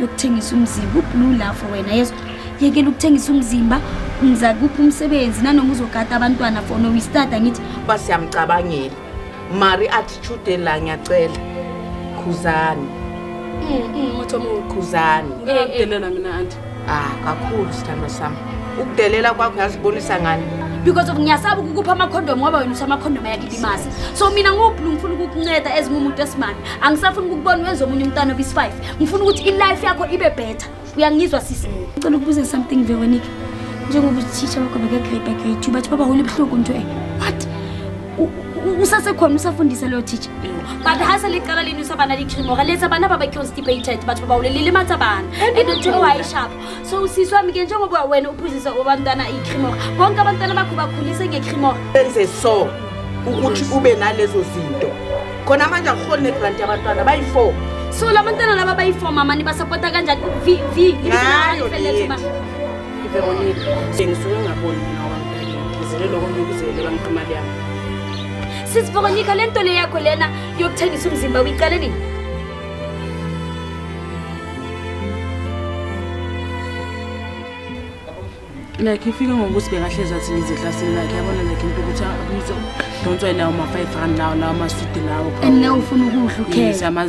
yokuthengisa umzimba ublue la for wena yeso yekela ukuthengisa umzimba ngiza kuphi umsebenzi nanoma uzogada abantwana for no wistada ngithi uba siyamcabangela mari attitude la ngiyacela khuzani khuzani delela mina anti ah kakhulu sithandwa sami ukudelela kwakho yazibonisa ngani because of ngiyasaba ukukupha amakhondom ngoba wena uthi amakhondom ayakilimaza so mina ngublu ngifuna ukukunceda ezingumuntu esimami angisafuni ukukubona wenza omunye umntana obisi-five ngifuna ukuthi ilife yakho ibe better uyangizwa sisi ngicela ukubuza something veronica njengoba uthisha wakho bekegrade by grade two bathi baba hole buhlungu mntu e what usasekhona usafundisa leyo teacher but hasa liqala lini usabana likhimora letha abana babeconstipated bathi baba hole lilimatha abana and uthiwa wayishapho so usisi wami ke njengoba wena uphuzisa abantwana ikhimora bonke abantwana bakho bakhulise ngekhimora enze so ukuthi ube nalezo zinto khona manje akuholi negranti yabantwana bayi-four so la bantwana laba bayi-four mama nibasapota kanjani v v Ngayo le yethu. iveronika ngisuke ngaboni mina wangizele loko ngikuzele bangiqa imali yami sisi veronika le nto le yakho lena yokuthengisa umzimba uyiqale nini like ifike ngokuthi bekahlezi athi ngize eklasini lakhe yabona like into ukuthi abuyise udonswa yilawo ma-five rand lawo lawo masudi lawo and nawe ufuna ukudla ukhele